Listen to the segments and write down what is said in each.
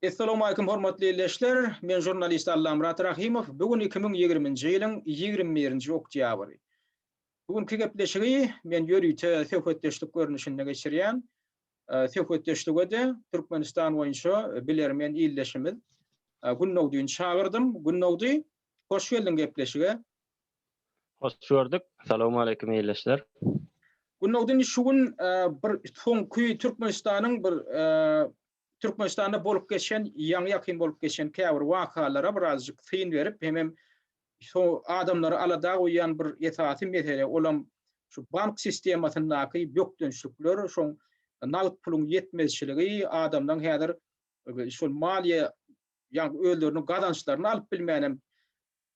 Essalowmalikim hormatly ildeşler, men žurnalist Allamyrat Rahymow, bu gün iki müň ýigriminji ýylyň ýigrimi birinji oktýabry. Bu günki gepleşigi men ýörite söhbetdeşlik görnüşinde geçirýän, söhbetdeşlige-de Türkmenistan boýunça bilermen ildeşimiz Gündogdyn çagyrdym. Gündogdy, hoş geldiň gepleşige. Hoş gördük. Salowmaleýkim ildeşler. Günogdyn şu gün bir soňky Türkmenistanyň bir Türkmenistanda bolup geçen ýaňy ýakyn bolup geçen käbir wakalara birazjyk syn berip hemem so adamlary alada goýýan bir esasy mesele olam şu bank sistemasyndaky bökdençlikler şoň nagt puluň ýetmezçiligi adamlaň häzir şol maliýe ýa özleriniň gazançlaryny alyp bilmänem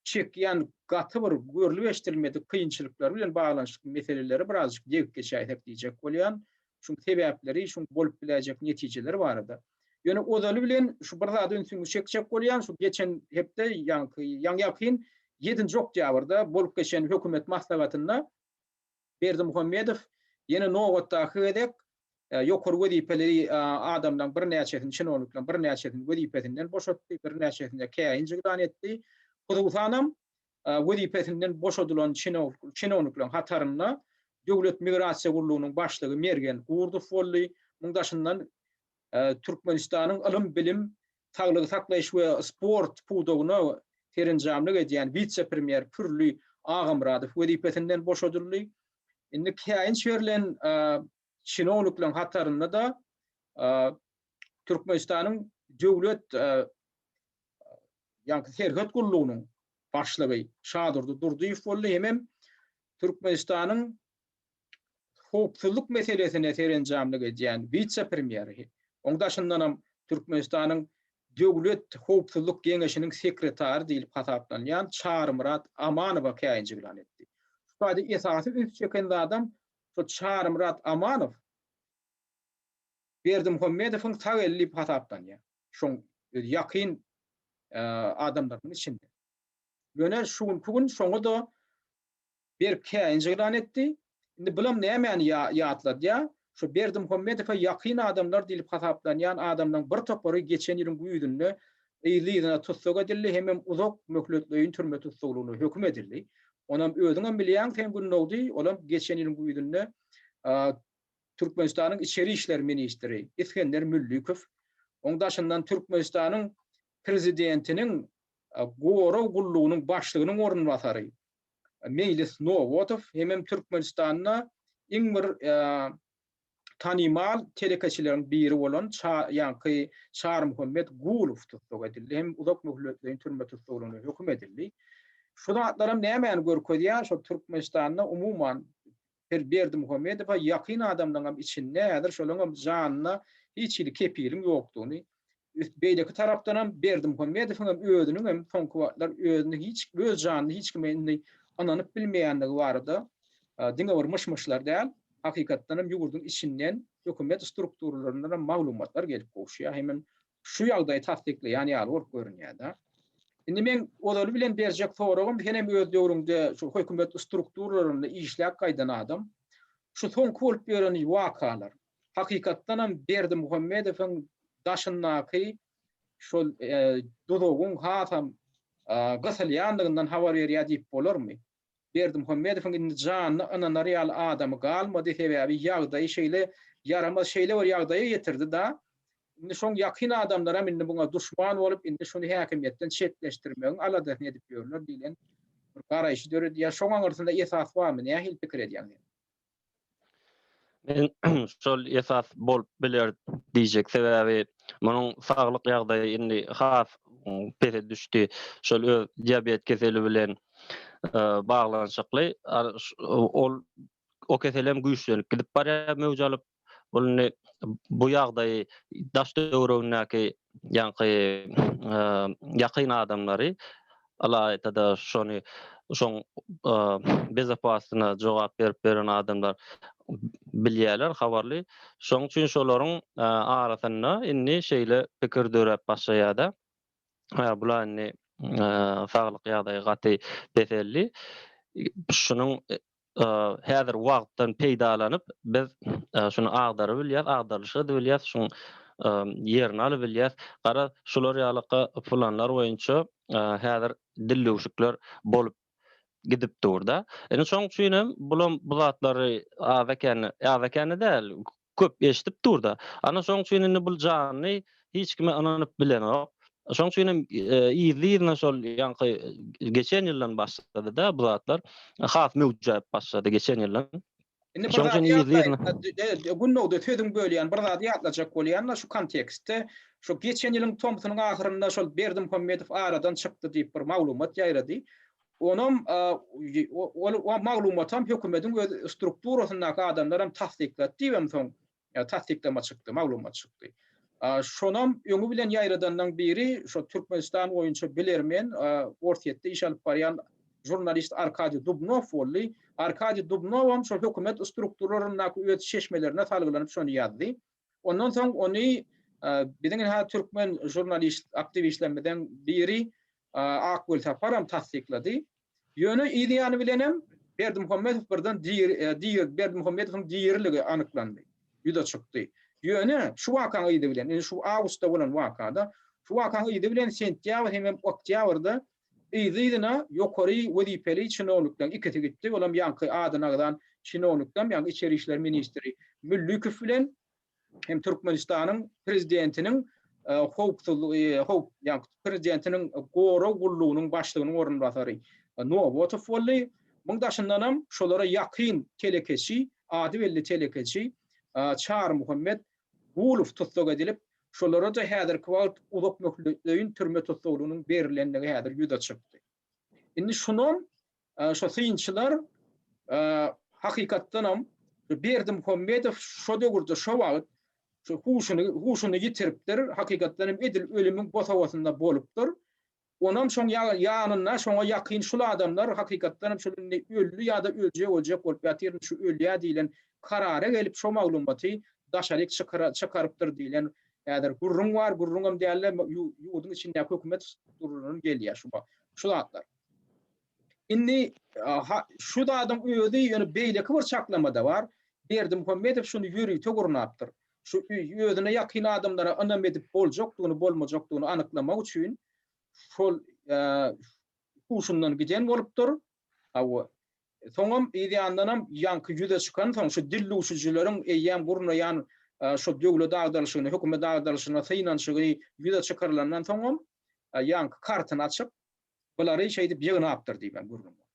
çekýän gaty bir görlüp-eşdilmedik kynçylyklar bilen baglanyşykly meseleleri birazjyk degip geçäýsek diýjek bolýan. Şuň sebäpleri, şuň bolup biläýjek netijeleri barada. Ýöne ozaly bilen şu bir zada ünsüňizi çekjek bolýan, şu geçen hepde, ýaňky, ýaňy-ýakyn ýedinji oktýabrda bolup geçen hökümet maslahatynda, Berdimuhamedow ýene nobatdaky gezek ýokary wezipeli adamlaryň birnäçesini, çinownikleriň birnäçesini wezipesinden boşatdy, birnäçesine käýinç yglan etdi. Hususanam, wezipesinden boşadylan çinownikleriň hatarynda Döwlet migrasiýa gullugynyň başlygy Mergen Gurdow boldy. Muň daşyndan Türkmenistanyň ylym-bilim saglygy saklaýyş we sport pudagyna serenjamlyk edýän wise-premýer Pürli Agamyradow wezipesinden boşadyldy. Indi käýinç berlen çinownikleriň hatarynda-da Türkmenistanyň Döwlet ýaňky serhet gullugynyň başlygy Şadurdy Durdyýew boldy, hemem Türkmenistanyň howpsuzlyk meselesine serenjamlyk edýän wise-premýer, onuň daşyndanam Türkmenistanyň Döwlet howpsuzlyk geňeşiniň sekretary diýlip hasaplanýan Çarymyrat Amanowa käýinjiglan etdi. Şu taýda esasy üns çeken zadam şo Çarymyrat Amanow Berdimuhamedowyň sag eli diýip hasaplanýar. Şoň öz ýakyn adamlarynyň içinde. Ýöne şu günki gün şoňa-da Berk käýinç yglan etdi. Indi bulam nämäni ýatladýa? Şu Berdimuhamedowa ýakyn adamlar diýlip hasaplanýan adamlaryň bir topary geçen ýylyň güýzünde yzly-yzyna tussag edildi hemem uzak möhletleýin türme tussaglygyna höküm edildi. Onam özüňem bilýäň sen Gündogdy, olam geçen ýylyň güýzünde Türkmenistanyň içeri işler ministri Isgender Müllikow, oň daşyndan Türkmenistanyň prezidentiniň gorag gullugynyň başlygynyň orunbasary Meýlis Nowadow hemem Türkmenistanda iň bir tanymal telekeçileriň biri bolan ýaňky Çarymuhammet Gulow tussag edildi hem uzak möhletleýin türme tussaglygyna höküm edildi. Şu zatlaram nämäni görkezýär, şol Türkmenistanda umuman Her Berdimuhamedowa ýakyn adamlaňam içinde häzir şolaňam janyna hiç hili kepiliň ýokdugyny, beýleki tarapdanam Berdimuhamedowyňam özüniňem soňky wagtlar özüni hiç öz janyny hiç kime indi ynanyp bilmeýändigi barada diňe bir myş-myşlar däl, hakykatdanam ýurduň içinden, hökümet strukturalarynyňam maglumatlar gelip gowuşýar. Hemem şu ýagdaýy tassyklaýan ýaly bolup görünýär-de. Indi meň ozaly bilen berjek soragym, sen hem öz döwrüňde şu hökümet strukturalarynda işläp gaýdan adam, şu soňky bolup ýören wakalar, hakykatdanam Berdimuhamedowyň daşyndaky şol duzagyň hasam gysylýandygyndan habar berýär diýip bolarmy? Berdimuhamedowyň indi janyna ynanar ýaly adamy galmady, sebäbi ýagdaýy şeýle ýaramaz şeýle bir ýagdaýa ýetirdi da, indi şoň ýakyn adamlaram indi muňa duşman bolup, indi şuny häkimiýetden çetleşdirmegiň aladasyny edip ýörler diýlen bir garaýşy döredýär. Şoň aňyrsynda esas barmy, nähili pikir edýäň sen? Men şol esas bolup biler diýjek sebäbi munuň saglyk ýagdaýy indi has pese düşdi. Şol öz diabet keseli bilen e, baglanyşykly. Ol o kesel hem güýçlenip gidip barýar möwj alyp. Ol indi bu ýagdaýy daş döwregindäki ýaňky e, ýakyn adamlary Ylaýta-da şony şoň bezapasyna jogap berip beren adamlar bilýärler, habarly. Şoň üçin şolaryň arasynda indi şeýle pikir döräp başlaýar-da, bula indi saglyk ýagdaýy gaty peseldi, şunuň Häzir wagtdan peýdalanyp, biz şuny agdarybilýäs, agdarylyşy edibilýäs, şuň ýerini alybilýäs. Garaz, şular ýaly planlar boýunça häzir dildüwşükler bolup gidip dur-da. Indi şoň üçin hem bulam bu zatlary aza-kände, aza-kände däl, köp eşidip dur-da. Ana şoň üçin indi bul janly hiç kime ynanyp bilenok. Şoň üçin hem yzly-yzyna şol ýaňky geçen ýyldan başlady-da bu zatlar. Has möwjäp başlady geçen ýyldan. Indi bir zat ýatlaýyn. Gündoguda sözüňi bölýän, bir zady ýatlajak bolýan-da şu kontekstde. Şu geçen ýylyň tomsunyň ahyrynda şol Berdimuhamedow aradan çykdy diýip bir maglumat ýaýrady. Onam ol maglumatam hökümediň öz strukturasyndaky adamlar hem tassyklady diýip hem soň tassyklama çykdy, maglumat çykdy. Şonam öňi bilen ýaýradanlaň biri şo Türkmenistan boýunça bilermen Orsýetde iş alyp barýan žurnalist Arkadiý Dubnow boldy. Arkadiý Dubnowam şo hökümet strukturlaryndaky öz çeşmelerine salgylanyp şony ýazdy. Ondan soň ony biziň hä türkmen žurnalist aktiwistlerimizden biri Akgül Saparam tassyklady. Ýöne yz ýany bilenem Berdimuhamedow birden diri Berdimuhamedowyň diriligi anyklandy, ýüze çykdy. Ýöne şu wakanyň yzy bilen, indi şu awgustda bolan wakada, şu wakanyň yzy bilen sentýabr hemem oktýabrda Yz-yzyna ýokary wezipeli çinownikleň ikisi gitdi, olam ýaňky adyny agzan çinownikdam, ýagny içeri işler ministri Müllükow bilen hem Türkmenistanyň prezidentiniň howpsuzlygy, prezidentiniň gorag gullugynyň başlygynyň orunbasary Nobotow boldy. Muň daşyndanam şolara ýakyn telekeçi, ady belli telekeçi Çarymuhammet Gulow tussag edilip, Şolara-da häzirki wagt uzak möhletleýin türme tussaglygynyň berilendigi häzir ýüze çykdy. Indi şunam şu synçylar hakykatdanam Berdimuhamedow şo döwürde şo wagt huşuny huşuny ýitiripdir, hakykatdanam edil ölümiň bosagasynda bolupdyr. Onam şoň ýanynda şoňa ýakyn şul adamlar hakykatdan hem şul indi öldi ýa-da öljek öljek bolup ýatyryn şu ölýä diýlen karara gelip şo maglumaty daşaryk çykarypdyr diýlen häzir gürrüň bar, gürrüňem dälde ýurduň içindäki hökümet strukturalarynyň gelýä şu şu zatlar. Indi şu zadyň özi ýöne beýleki bir çaklamada bar, Berdimuhamedow şuny ýörite gurnapdyr. şu özüne ýakyn adamlara ynam edip boljakdygyny bolmajakdygyny anyklamak üçin şol huşundan giden bolupdyr. Hawa. Soňam yz ýandanam ýaňky ýüze çykan soň şu dil duşujileriň eýýäm gurnaýan şu döwlet agdalyşyny, hökümet agdalyşyna synanşygy ýüze çykarylandan soňam ýaňky kartyny açyp bulary şeýdip ýygnapdyr diýibem gürrüň bar.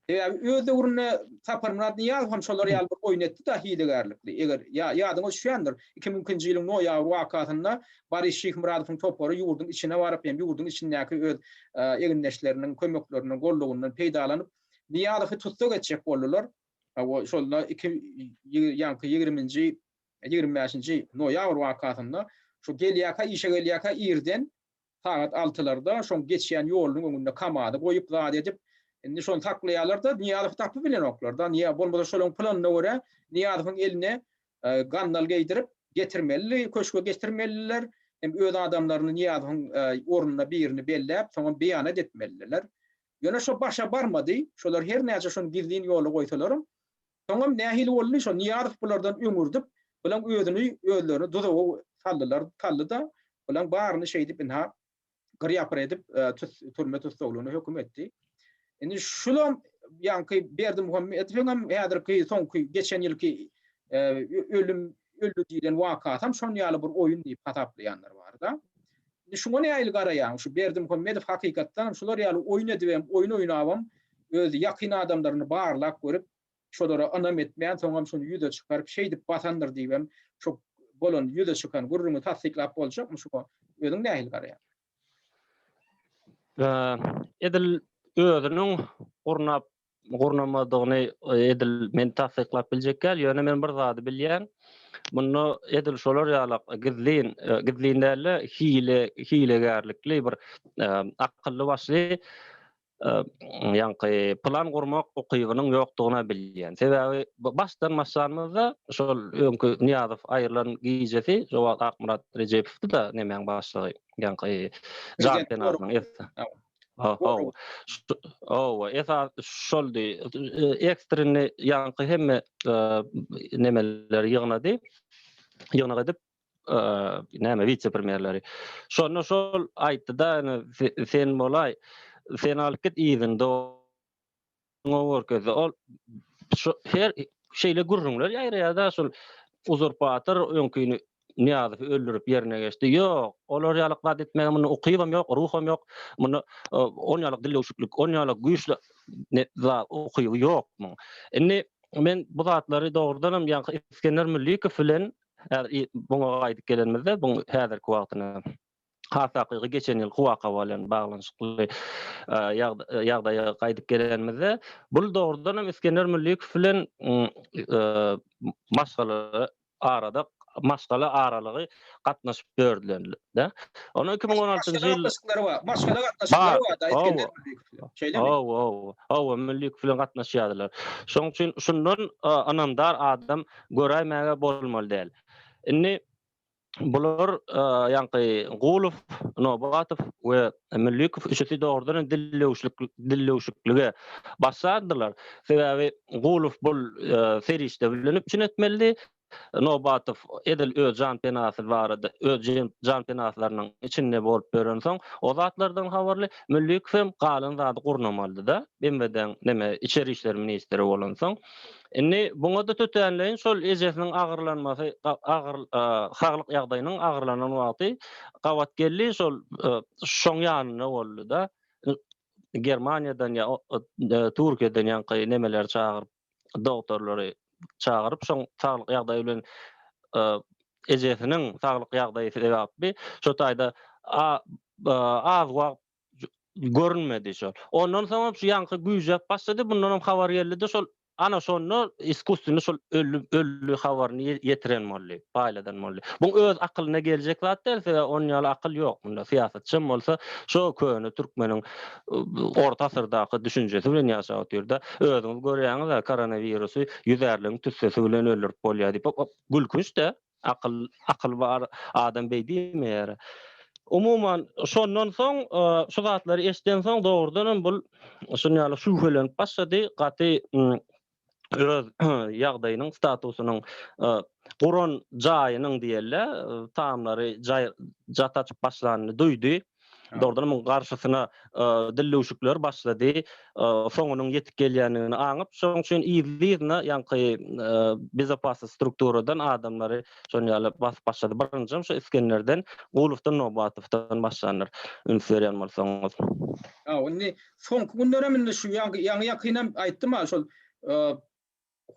Sebäbi öz döwründe Saparmyrat Nyýazow hem şolar ýaly bir oýun etdi-de hilegärlikli. Eger ýadyňyza düşýändir, iki müň ikinji ýylyň noýabr wakasynda Boris Şyhmyradowyň topary ýurduň içine baryp hem ýurduň içindäki öz egindeşleriniň kömeklerinden, gollugyndan peýdalanyp, Nyýazowy tussag etjek boldular. Hawa, şonda iki ýaňky ýigriminji, ýigrimi bäşinji noýabr wakasynda şu gelýärkä, işe gelýärkä irden sagat altylarda şoň geçýän ýolunyň öňünde kamazy goýup zat edip indi şony saklaýarlarda Nyýazowy tapyp bilenoklar da Nyýaz bolmasa şolaň planyna görä Nyýazowyň eline gandal geýdirip getirmelidi köşge getirmelidiler hem öz adamlaryny Nyýazowyň ornuna birini belläp soňam beýanat etmelidiler ýöne şo başa barmady şolar her näçe şony gizlin ýola goýsalaram Soňam nähili boldy, şo Nyýazow bulardan öňürdip, bulaň özüni, özlerini duzaga saldylar, saldy-da, bulaň baryny şeýdip ynha, gyr-ýapyr edip, tut, türme tussaglygyna höküm etdi. Indi şulam, ýaňky Berdimuhamedowyňam häzirki, soňky, geçen ýylky ölüm, öldi diýlen wakasam şon ýaly bir oýun diýip hasaplaýanlar bar-da. Indi şuňa nähili garaýaň? Şu Berdimuhamedow hakykatdanam şular ýaly oýun edibem, oýun oýnabam, öz ýakyn adamlaryny barlap görüp, şolara ynam etmän, soňam şuny ýüze çykaryp, şeýdip basandyr diýibem, şo bolan, ýüze çykan gürrüňi tassyklap boljakmy? Şuňa özüň nähili garaýaň? Edil özüniň gurnap gurnamadygyny edil men tassyklap biljek däl, ýöne men bir zady bilýän, munda edil şolar ýaly gizlin, gizlin däl-de, hile, hilegärlikli bir akylly başly ýaňky plan gurmak ukybynyň ýokdugyny bilýän. Sebäbi başdan başlanymyzda şol öňki Nyýazow aýrylan gijesi, Akmyrat Rejepowdy-da nemäň başlygy, ýaňky Janpenadynyň. Owa, owa, esas şoldy. Ekstrinni ýaňky hemme nemeleri ýygnady. Ýygnak edip, näme wise premýerleri. Şonda şol aýtdy-da, sen bolaý, sen alyp git yzyny Oňa görkezdi. Ol şu her şeýle gürrüňler ýaýraýar-da, şol uzurpator öňkini Nyýazowy öldürip ýerine geçdi. Ýok, olar ýaly zat etmäge munda ukybam ýok, ruham ýok. Munda on ýaly dillewşiklik, on ýaly güýçli zat ukyby ýok muň. Indi men bu zatlary dogrudanam ýaňky Isgender Müllikow bilen muňa gaýdyp gelenimizde, bu häzirki wagtyna Has takygy geçen ýylky waka bilen baglanyşykly ýagdaýa gaýdyp gelenimizde, bul dogrudan hem Isgender Müllikow bilen maşgala arada maşgala aralygy gatnaşyp dördüleninde. Ony iki müň on altynjy ýyl gatnaşyklary bar. Maşgala gatnaşyklary bar da Isgender Müllikow bilen. Şeýlemi? Hawa, hawa. Hawa, Müllikow bilen gatnaşýardylar. Şonuň üçin şundan ynamdar adam göräýmäge bolmaly däl. Indi Bular ýaňky Gulow, Nobatow we Müllikow üçüsi dogrudan hem dillewşiklige başlardylar. Sebäbi Gulow bu serişde bilen üpjün etmelidi. Nobatow edil öz jan penasy barada, öz jan penaslarynyň içinde bolup ýörensoň, o zatlardan habarly. Müllikow hem galan zady gurnamalydy-da, BMWD-niň neme, içeri işler ministri bolansoň. Indi buňa-da tötänleýin şol ejesiniň agyrlanmasy, saglyk ýagdaýynyň agyrlanan wagty gabat geldi, şol şuşaň ýanynda boldy-da, Germaniýadan ýa Türkiýeden ýaňky nemeleri çagyryp, dogtorlary çagyryp, şoň saglyk ýagdaýy bilen ejesiniň saglyk ýagdaýy sebäpli şo taýda az wagt görünmedi şol. Ondan soňam şu ýaňky güýjäp başlady, mundan hem habar geldi-de şol ana şonda iskuswini şol öldi, öldi habaryny ýetiren boldy, paýladan boldy. Bu öz akylyna geljek zat däl, sebäbi onuň ýaly akyl ýok munda. Syýasatçy hem bolsa şo köne türkmeniň orta asyrdaky düşünjesi bilen ýaşap otyrda. Özüňiz görýäňiz-ä koronawirusy ýüzärligiň tüssesi bilen öldürip bolýar diýip. Gülkünç-dä. Akyl, akyl bar adam beý diýmeýär. Umuman, şondan soň, şu zatlary eşden soň dogrudan hem bul şun ýaly şübhelenip başlady, gaty öz ýagdaýynyň, statusynyň, guran jaýynyň diýeli, tamlary jaý, jat açyp başlanyny duýdy. Dogrudanam muň garşysyna dillewşikler başlady. Soňunyň ýetip gelýändigini aňyp, şoň üçin yzly-yzyna ýaňky bezopasnost strukturadan adamlary şon ýaly basyp başlady. Birinjem şu Isgenderden, Gulufdan, Nobatowdan başlandyr, üns berýän bolsaňyz. Indi soňky günlerem indi şu ýaňy-ýakynam aýtdym-a şol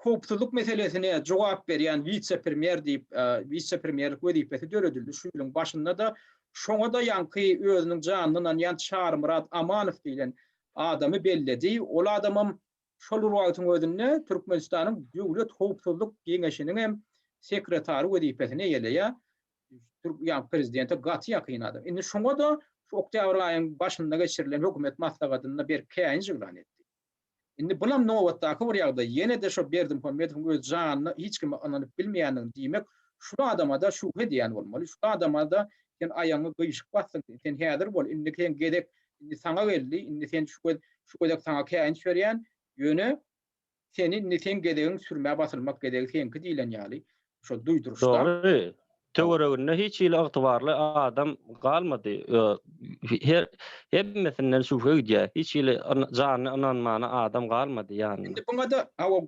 howpsuzlyk meselesine jogap berýän wise-premýer diýip, wise-premýerlik wezipesi döredildi. Şu ýylyň başynda-da şoňa-da ýaňky özüniň janyny ynanýan Çarymyrat Amanow diýlen adamy belledi. Ol adamam şol bir wagtyň özünde Türkmenistanyň Döwlet howpsuzlyk geňeşiniň hem sekretary wezipesini eýeleýär. Ýa prezidente gaty ýakyn adam. Indi şoňa-da şu oktýabr aýyň başynda geçirilen hökümet maslahatynda berk käýinç yglan etdi. Indi bunam nobatdaky bir ýagdaý, ýene-de şo Berdimuhamedowyň öz janyna hiç kime ynanyp bilmeýändigini diýmek, şul adama-da şübhe edýän bolmaly, şul adama-da sen aýagyňy gyýşyk basdyň, sen häzir bol, indi seň gezek, indi saňa geldi, indi sen şu gez, şu gezek saňa käýinç berýän, ýöne seni indi seň gezegiň, sürmä basylmak gezegi seňki diýlen ýaly, Şo duýduryşda. Dogry. Töwereginde hiç hili ygtybarly adam galmady. Her hemmesinden şübhe gidýär. Hiç hili janyna ynanmana adam galmady ýanynda. Indi buňa-da aw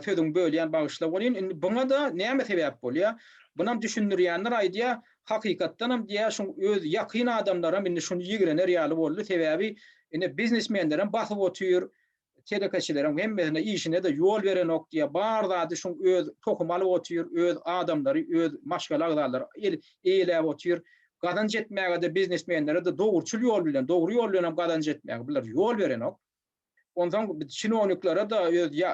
sözüňi bölýän bagyşla welin indi buňa-da näme sebäp bolýar? Bunam düşündirýänler aýdýar, hakykatdanam diýýär şuň öz ýakyn adamlaram indi şuny ýigrener ýaly boldy. Sebäbi indi biznesmenlerem basyp otyr. Telekeçileriň hemmesine işine-de ýol berenok diýýär. Bar zady şuň öz tohumy alyp otyr, öz adamlary, öz maşgala agzalary el eýeläp otyr. Gazanç etmäge-de, biznesmenlere-de dogruçyl ýol bilen, dogry ýol bilen hem gazanç etmäge bular ýol berenok. Onsoň çinowniklere-de, öz ýa,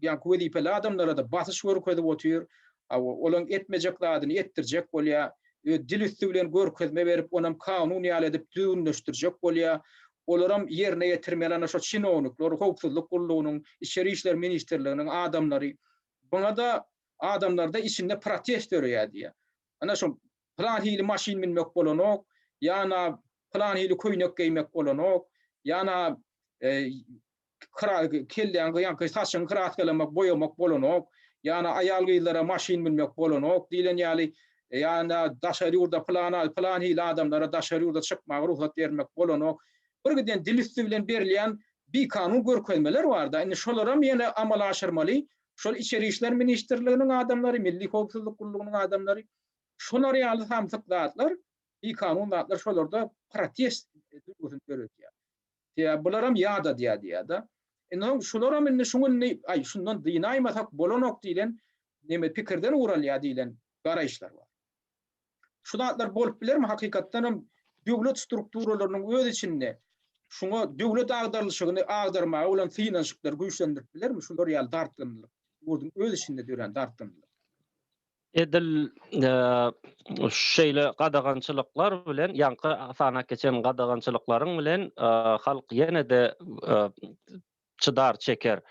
ýaňky wezipeli adamlara-da basyş görkezip otyr. A, olaň etmejek zadyny etdirjek bolýar. Ö, dil üsti bilen görkezme berip, onam kanun ýaly edip düzgünleşdirjek bolýar. Olaram ýerine ýetirmeli ana şo çinownikler, howpsuzlyk gullugynyň, içeri işler ministrliginiň adamlary. Buňada adamlarda içinde protest döreýär diýýär. Ana şo pylan hili maşyn münmek bolanok, ýa-na pylan hili köýnek geýmek bolanok, ýa-na kelläň gyýanky saçyňy kraskalamak, boýamak bolanok. Ýa-da aýal-gyzlara maşyn münmek bolanok diýlen ýaly, ýa-da daşary ýurda pylan pylan hili adamlara daşary ýurda çykmaga rugsat bermek bolanok. Birgiden dil üsti bilen berilýän bikanun görkezmeler bar-da. Indi şolaram ýene amala aşyrmaly. Şol Içeri işler ministrliginiň adamlary, Milli howpsuzlyk gullugynyň adamlary şolar ýaly samsyk zatlar, bikanun zatlar şolarda protest duýgusyny döredýär. Diýýär, bularam ýat adýar diýýär-de. Indi soň şularam indi şu gün diýip, aý, şundan dynaýmasak bolanok diýlen neme pikirden ugur alýar diýlen garaýyşlar bar. Şu zatlar bolup bilermi? Hakykatdan hem döwlet strukturalarynyň öz içinde şuňa döwlet agdarylyşygyny agdarmaga bolan synanyşyklar güýçlendirip bilermi? Şular ýaly dartgynlyk, ýurduň öz içinde dörän dartgynlyk. Edil şeýle gadagançylyklar bilen, ýaňky sanap geçen gadagançylyklaryň bilen halk ýene-de çydar, çeker.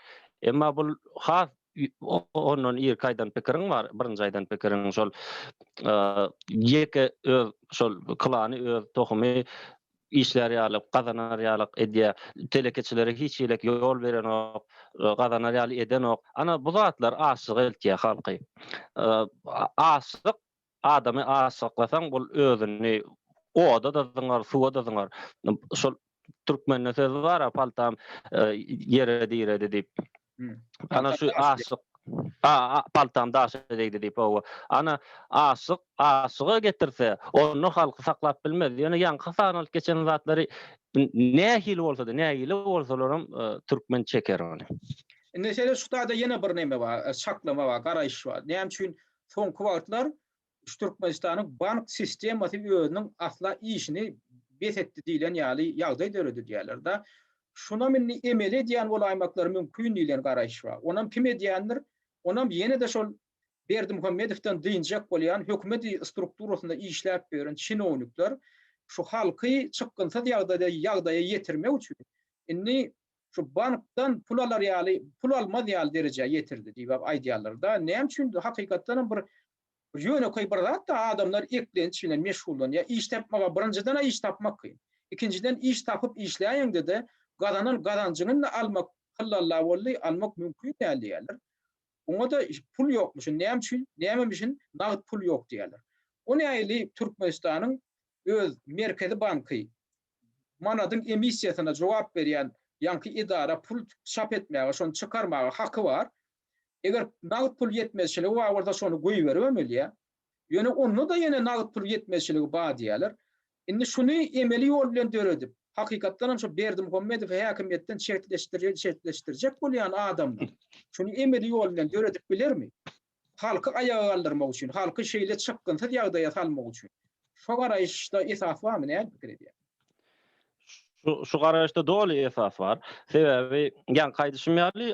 Emma bul has ondan irki aýdan pikiriň bar, birinji aýdan pikiriň şol ýeke öz şol klany, öz tohumy işlär ýalyk, gazanar ýalyk edýär. Telekeçilere hiç hili ýol berenok, gazanar ýaly edenok. Ana, bu zatlar açlyga eltýär halky. Açlyk, adamy açlyklasaň, ol özüni oda-da zyňar, suwa-da zyňar. Şol türkmende söz bar-a, Paltam ýere diredi diýip. Ana şu aşyk A, paltam daşa degdi diýip owa. Ana aşyk aşyga getirse, onda halky saklap bilmez. Ýöne ýaňky sanalyp geçen zatlary nähili bolsa-da, nägile bolsalaram e, türkmen çeker ony. Indi şeýle şu taýda ýene bir neme bar, e, çaklama bar, garaýyş bar. Näme üçin soňky wagtlar Şu Türkmenistanyň bank sistemasy özüniň asla işini bes etdi diýlen ýaly ýagdaý döredi diýýärler-de. Şunam indi emele edýän bolaýmaklary mümkin diýlen garaýyş bar. Onam kim edýändir? Onam ýene-de şol Berdimuhamedowdan dynjak bolýan hökümet strukturasynda işläp ýören çinownikler şu halky çykgynsyz ýagdaýda ýagdaýa ýetirmek üçin indi şu bankdan pul alar ýaly, pul almaz ýaly derejä ýetirdi diýibap aýdýarlar-da. Näme üçin hakykatdanam bir Bu ýönekeý bir zat-da, adamlar eklenç bilen meşgullanýar. Iş tapmaga birinjiden-ä iş tapmak kyn. Ikinjiden iş tapyp işläýeňde-de gazanan gazanjyňy-da almak hyllalla boldy, almak mümkin däl diýýärler. Oňa-da pul ýokmuşyn, näme üçin, nämemişin nagt pul ýok diýýärler. O nähili Türkmenistanyň öz Merkezi banky manadyň emissiýasyna jogap berýän ýaňky edara pul çap etmäge, şony çykarmaga haky bar. Eger nagt pul ýetmezçiligi bar bolsa şony goýberip hem bilýär. Ýöne onda-da ýene nagt pul ýetmezçiligi bar diýýärler. Indi şuny emeli ýol bilen döredip, hakykatdan hem şu Berdimuhamedowy häkimiýetden çetleşdirýän, çetleşdirjek bolýan adamlar şuny emeli ýol bilen döredip bilermi? Halky aýaga galdyrmak üçin, halky şeýle çykgynsyz ýagdaýa salmak üçin. Şo garaýyşda esas barmy, näme pikir edýäňiz? Şu garaýyşda doly esas bar. Sebäbi, ýaňky aýdyşym ýaly,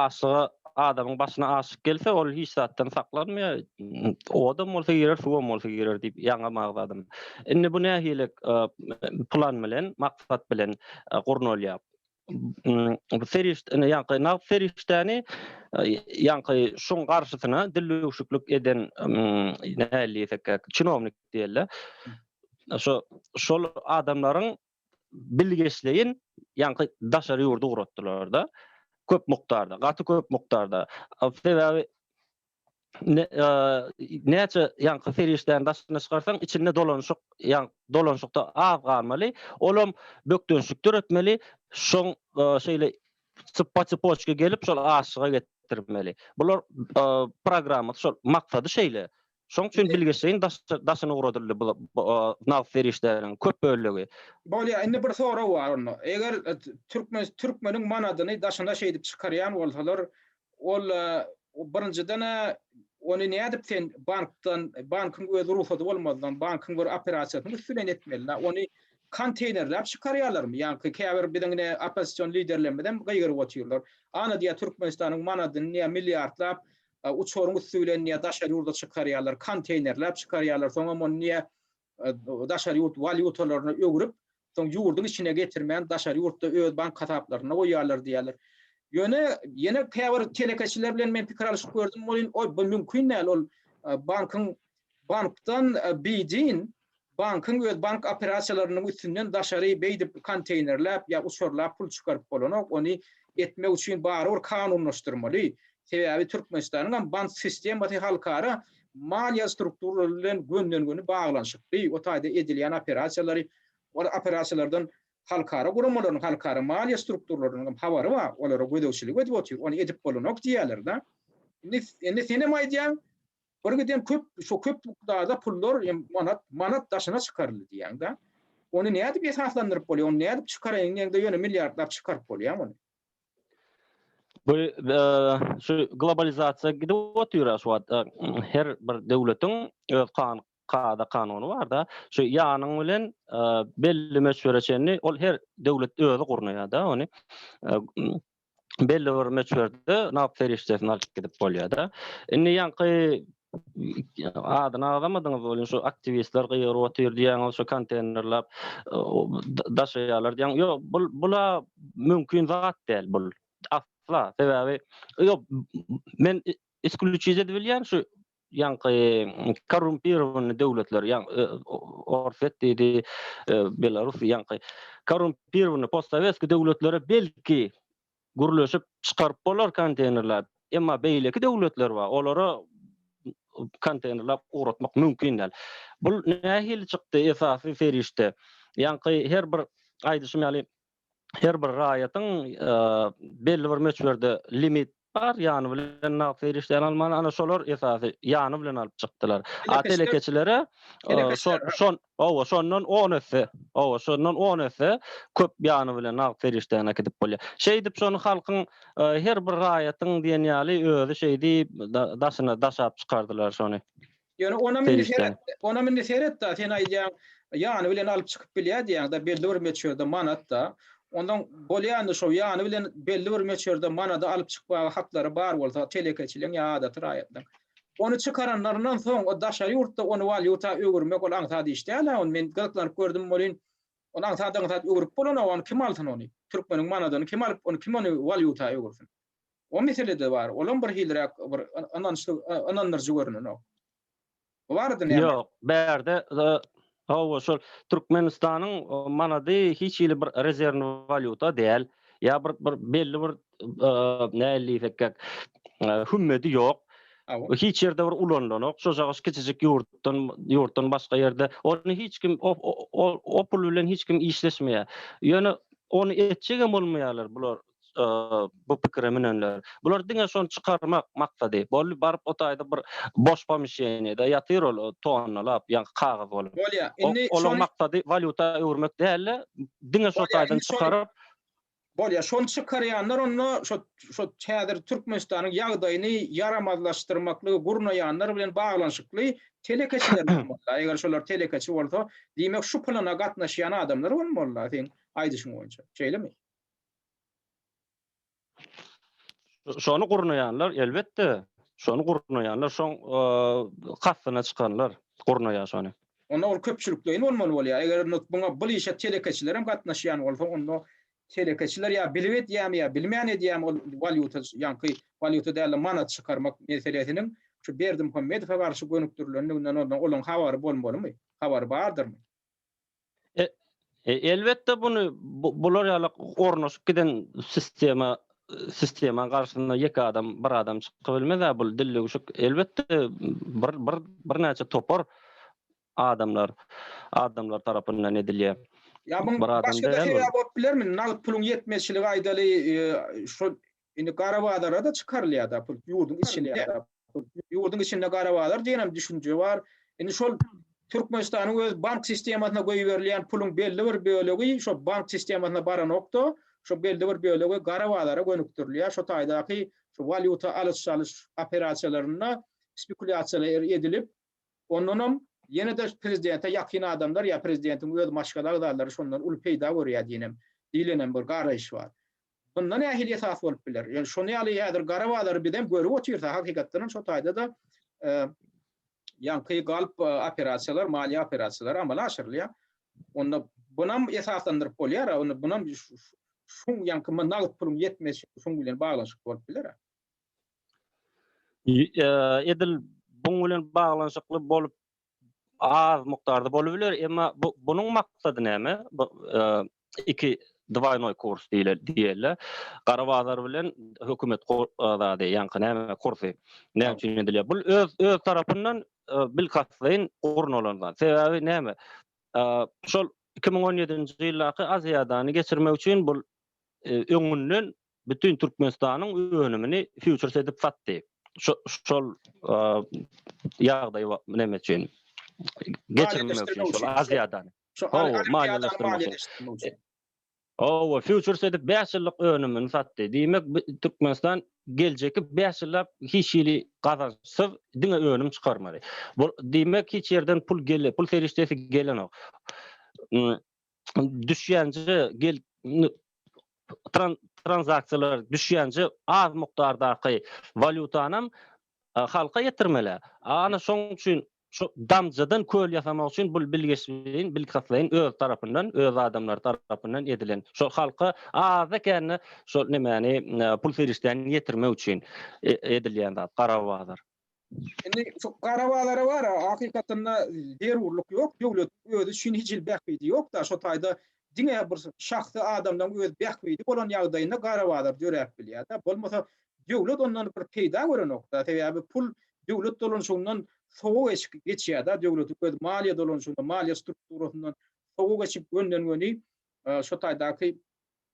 aşyga adamyň başyna aşyk gelse, ol hiç zatdan saklanmaýar. Odam bolsa girer, suwam bolsa girer diýip ýaňa magdadym. Indi bu nähili plan bilen, maksat bilen gurnalýar? bu serişde indi ýaňky nagt serişdäni ýaňky şuň garşysyna dil öwşüklik eden näle diýsek çinownik diýerler. Şo şol adamlaryň bilgeşleýin ýaňky daşary ýurdy ugratdylar-da. Köp mukdarda, gaty köp mukdarda. Sebäbi näçe ýaňky serişdäni daşyna çykarsaň, içinde dolanyşyk, ýaň dolanyşykda az galmaly. Olam bökdençlik döretmeli. Şoň şeýle çypa çypoçka gelip şol aşyga getirmeli. Bular programma şol maksady şeýle. Şoň üçin bilgeşleýin daşyna ugradyldy bu nagt serişdäniň köp bölegi. Bolýar. Indi bir sorag bar onda. Eger türkmen türkmeniň manadyny daşyna şeýdip çykarýan bolsalar, Ol birinjiden-ä ony nädip sen bankdan, bankyň öz rugsady bolmazdan, bankyň bir operasiýasynyň üsti bilen etmeli-dä. Ony konteýnerläp çykarýarlarmy? Ýaňky käbir biziň ine oppozision liderlerimizem gygyryp otyrlar. Ana diýýär Türkmenistanyň manadyny diýýär milliardlap uçaryň üsti bilen diýýär daşary ýurda çykarýarlar, konteýnerläp çykarýarlar, soňam ony diýýär daşary ýurt walýutalaryna öwrüp, soň ýurduň içine getirmän, daşary ýurtda öz bank hasaplarynda goýýarlar diýýärler. Ýöne ýene käbir telekeçiler bilen men pikir alyşyp gördüm welin, bu mümkin däl, ol bankyň bankdan beýdin, bankyň öz bank operasiýalarynyň üstünden daşary beýdip konteýnerläp ýa uçurlap pul çykaryp bolanok, ony etmek üçin barybir kanunlaşdyrmaly. Sebäbi Türkmenistanyňam bank sistemasy halkara Maliýe strukturalary bilen gönden-göni baglanyşykly o taýda edilýän operasiýalary, ol operasiýalardan halkara guramalarynyň, halkara maliýe strukturalarynyň hem habary bar, olara gözegçilik edip otyr, ony edip bolanok diýýärler-de. Indi, indi sen hem aýdýaň, birgiden köp, şo köp mukdarda pullar hem manat, manat daşyna çykaryldy diýýäň-de. Ony nädip esaslandyryp bolýar, ony nädip çykaraýyn diýeňde ýöne milliardlap çykaryp bolýar muny. Bu şu globalizasiýa gidip otyr şu wagt. Her bir döwletiň öz kan kada kanuny barda. Şu ýanyň bilen belli möçbere çenli ol her döwlet özi gurnaýarda ony. Belli bir möçberde nagt serişdesini alyp gidip bolýarda. Indi ýaňky adyny agzamadyňyz welin şu aktiwistler gygyryp otyr diýýäňiz şu konteýnerlap daşaýarlar diýýäň ýok bu bula mümkin zat däl bul asla sebäbi ýok men isklüçiz edip bilýän şu ýaňky korrumpirowany döwletler ýaň e, orswet diýdi e, belarus ýaňky korrumpirowany postsowetski döwletlere belki gürleşip çykaryp bolar konteýnerlap, emma beýleki döwletler bar, olara konteýnerlap ugratmak mümkin däl. Bu nähili çykdy esasy serişde? Ýaňky her bir aýdyşym ýaly her bir raýatyň belli bir möçberde limit bar, ýany bilen nagt serişdäni almaly, ana şolar esasy ýany bilen alyp çykdylar. Telekeçilere şo Hawa, şondan on esse, hawa, şondan on esse köp ýany bilen nagt serişdäni äkidip bolýar. Şeýdip, şony halkyň, her bir raýatyň diýen ýaly özi şeýdip daşyna daşap çykardylar şony. Ýöne onam indi seret, onam indi seret-de, sen aýdýaň, ýany bilen alyp çykyp bilýär diýýäň-de, belli bir möçberde manat-da. Ondan bolýandy şo, ýany bilen belli bir möçberde manady alyp çykmaga haklary bar bolsa, telekeçiligiň ýa adaty raýatlaryň. Ony çykaranlaryndan soň o daşary ýurtda ony walýuta öwürmek ol aňsat iş däl-ä ony men gyzyklanyp gördüm welin ony aňsat-aňsat öwürip bolanok ony kim alsyn ony türkmeniň manadyny kim alyp ony kim ony walýuta öwürsin o meselede bar olam bir hiliräk bir ynançly ynandyryjy görünenok. Bu barada näme? Ýok bärde Hawa, şol Türkmenistanyň manady hiç hili bir rezerwni walýuta däl. Ýa bir bir belli bir nähili diýsekkäk hümmedi ýok. Hiç ýerde bir ulanylanok. Şojagyş kiçijik ýurtdan ýurtdan başga ýerde ony hiç kim o pul bilen hiç kim işleşmeýär. Ýöne ony etjegem bolmaýarlar bular bu pikire münenler. Bular diňe şony çykarmak maksady. Boldy, baryp o taýda bir boş pomişeniýede ýatyr ol tonnalap, ýa kagyz bolup. Bolýa, indi şony Olaň maksady walýuta öwürmek däl-de, diňe şo taýdan çykaryp. Bolýa, şony çykarýanlar onda şo şo häzir Türkmenistanyň ýagdaýyny ýaramazlaşdyrmaklygy gurnaýanlar bilen baglanyşykly telekeçiler bolmaly. Eger şolar telekeçi bolsa, diýmek şu plana gatnaşýan adamlar bolmaly-la seň aýdyşyň boýunça. Şeýlemi? Şony gurnaýanlar, elbetde, şony gurnaýanlar, şoň kastyna çykanlar gurnaýar şony. Onda ol köpçülikleýin bolmaly bolýar. Eger muňa bul işe telekeçiler hem gatnaşýan bolsa, onda telekeçiler ýa bilip edýärmi, ýa bilmän edýärmi, ol walýuta, ýaňky walýuta däl-de manat çykarmak meselesiniň şu Berdimuhamedowa garşy gönükdirilendiginden onda olaň habary bolmalymy? Habary bardyrmy? Elbetde bunu bular ýaly ornaşyp giden sistema sistema garşyna ýeke adam bir adam çykyp bilmez bu dilleuşik elbetde bir bir bir näçe topar adamlar adamlar tarapyndan edilýär. Ýa bu başga da sebäp bolup bilermi? Nagt puluň ýetmezçiligi aýdaly e, şu Indi gara bazara-da çykarylýar-da pul, ýurduň içinde. Ýurduň içinde gara bazar diýenem düşünje bar. Indi şol Türkmenistanyň öz bank sistemasyna goýberilýän puluň belli bir bölegi şo bank sistemasyna baranok-da, şo belli bir bölegi gara bazara gönükdirilýär. Şo taýdaky şu walýuta alyş-çalyş operasiýalarynda spekulýasiýalar edilip, ondanam ýene-de prezidente ýakyn adamlar ýa prezidentiň öz maşgala agzalary şondan uly peýda görýär diýenem, diýlenem bir garaýyş bar. Munda nähili esas bolup biler? Ýöne şony ýaly häzir gara bazary bizem görüp otyrys. Hakykatdan hem şo taýda-da ýaňky galp operasiýalar, maliýe operasiýalary amala aşyrylýar. Onda bunam esaslandyryp bolýar-a, onda bunam şu ýaňky nagt puluň ýetmezçi şuň bilen baglanyşykly bolup biler-a? Edil buň bilen baglanyşykly bolup az mukdarda bolup biler, emma bu bunuň maksady näme? Bu e, iki dwaynoy kurs diýler diýerler. Gara bazar bilen hökümet zady, ýaňky näme kursy? Näme üçin edilýär? Bu öz öz tarapyndan e, bilkastlaýyn gurnalan zat. Sebäbi näme? E, şol 2017-nji ýyldaky Aziýadany geçirmek üçin bu öňünden bütin Türkmenistanyň önümini fýuçers edip satdy. Şol ýagdaý näme üçin? Geçirmek üçin şol Aziýadan. Hawa, maliýeleşdirmek üçin. Hawa, fýuçers edip 5 ýyllyk önümini satdy. Diýmek, Türkmenistan geljekki 5 ýyllap hiç hili gazançsyz diňe önüm çykarmaly. Bu diýmek, hiç ýerden pul gelip, pul serişdesi gelenok. düşýänje gel transaksiýalar düşýänje az mukdardaky walýutanam halka ýetirmeli. Ana şoň üçin şu damjadan köl ýasamak üçin bu bilgeşleýin, bilkastlaýyn öz tarapyndan, öz adamlary tarapyndan edilen. Şol halka aza kände şol nemäni pul serişdäni ýetirmek üçin edilýän zat, garabazar. Indi şu gara bazara bar, hakykatdan-da zerurlyk ýok. Döwlet özi üçin hiç hili bähbidi ýok-da, şo taýda diňe bir şahsy adamlaryň öz bähbidi bolan ýagdaýynda gara bazar döräp bilýär-de. Bolmasa döwlet ondan bir peýda görenok-da. Sebäbi pul döwlet dolanyşygyndan sowa geçip geçýär-de, döwletiň öz maliýe dolanyşygyndan, maliýe strukturasyndan sowa geçip gönden-göni şo taýdaky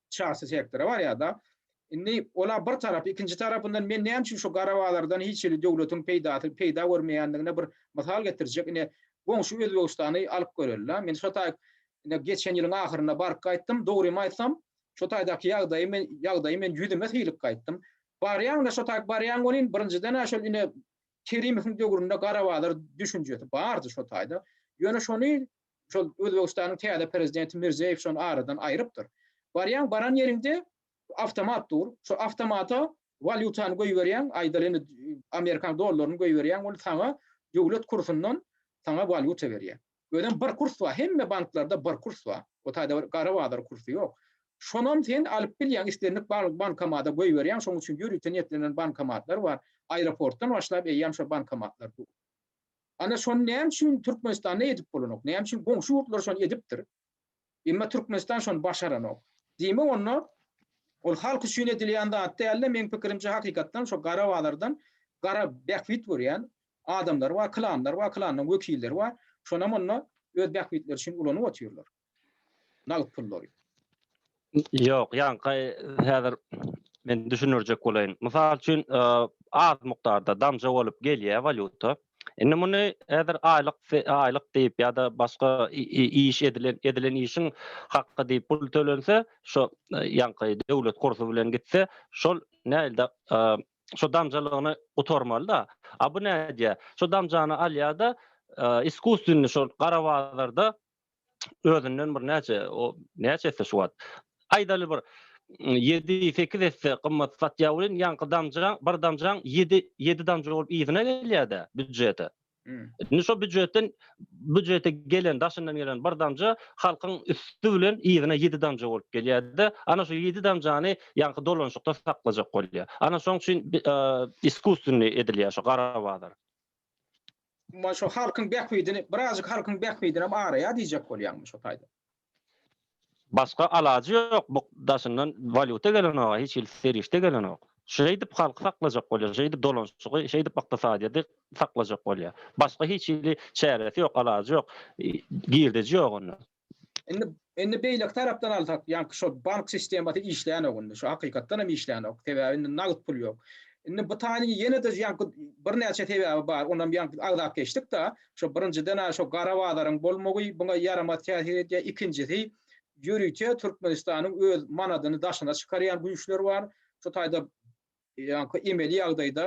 çarsy sektora barýar-da. Indi ola bir tarap, ikinji tarapyndan men näme üçin şu gara bazardan hiç hili döwletiň peýdasy, peýda görmeýändigine bir mysal getirjek. Ine, goňşy Özbegistany alyp göreli-de. Men şo taý ine geçen ýylyň ahyrynda baryp gaýtdym. Dogrymy aýtsam, şo taýdaky ýagdaýy men, ýagdaýy men ýüzüme sylyp gaýtdym. Barýaň-da, şo taý barýaň welin, birinjiden-ä şol ine Kerimowyň döwründe gara bazar düşünjesi bardy şo taýda. Ýöne şony Şol Özbegistanyň täze prezidenti Mirziýew şony aradan aýrypdyr. Barýaň, baran ýeriňde awtomat dur. Şo awtomata walýutany goýberýäň, aýdaly indi amerikan dollaryny goýberýäň, ol saňa döwlet kursundan saňa walýuta berýär. Özem bir kurs bar, hemme banklarda bir kurs bar. O taýda bir gara bazar kursy ýok. Şonam sen alyp bilýäň, islendik bankomata goýberýäň, şonuň üçin ýörite niýetlenen bankomatlar bar. Aeroportdan başlap eýýäm şo bankomatlar dur. Ana şony näme üçin Türkmenistanda edip bolanok? Näme üçin goňşy ýurtlar şony edipdir? Emma Türkmenistan şony başaranok. Diýmek onda ol halk üçin edilýän zat dälde meň pikirimçe hakykatdan şo gara bazardan gara bähbit görýän adamlar bar, klanlar bar, klanlaryň wekilleri bar. Şonam onda öz bähbitleri üçin ulanyp otyrlar. Nagt pullary. Ýok, ýaňky häzir men düşündirjek bolaýyn. Mysal üçin, az mukdarda damja bolup gelýär walýuta. Indi muny häzir aýlyk, aýlyk diýip ýa-da başga iş edilen, edilen işiň haky diýip pul tölense, şo ýaňky döwlet kursy bilen gitse, şol nähili-de şo damjalygyny gutarmaly-da. A bu nädýär? Şo damjany alýar-da, iskuswinni şol gara bazarda özünden bir näçe o näçe esse şu wagt aýdaly bir 7-8 mm, esse gymmat satýar welin ýaňky damja bir damjaň 7 7 damja bolup yzyna gelýär-de býujete. Mm. Indi şo býujetden býujete gelen daşyndan gelen bir damja halkyň üsti bilen yzyna 7 damja bolup gelýär-de ana şu 7 damjany ýaňky dolanyşykda saklajak bolýar. Ana şoň üçin e, iskusstwny edilýär şu gara bazar. Maňa şu halkyň bähbidini, birazjyk halkyň bähbidinem araýar diýjek bolýarmy şu taýda? Başga alajy ýok, bu daşyndan walýuta gelenok-a, hiç hili serişde gelenok. Şeýdip halky saklajak bolýar, şeýdip dolanşygy, şeýdip ykdysadyýeti saklajak bolýar. Başga hiç hili çäresi ýok, alajy ýok, girdeji ýok onda. Indi indi beýleki tarapdan alsak, ýaňky şo bank sistemasy işlänok indi. Şu hakykatdan hem işlänok. Sebäbi indi nagt pul ýok. Indi bu taýyny ýene-de ýaňky birnäçe sebäbi bar. Onam ýaňky agzap geçdik-de. Şo birinjiden şo gara bazaryň bolmagy buňa ýaramaz täsir edýär. Ikinjisi, ýörite Türkmenistanyň öz manadyny daşyna çykarýan güýçler bar. Şu taýda Ýaňky emeli ýagdaýda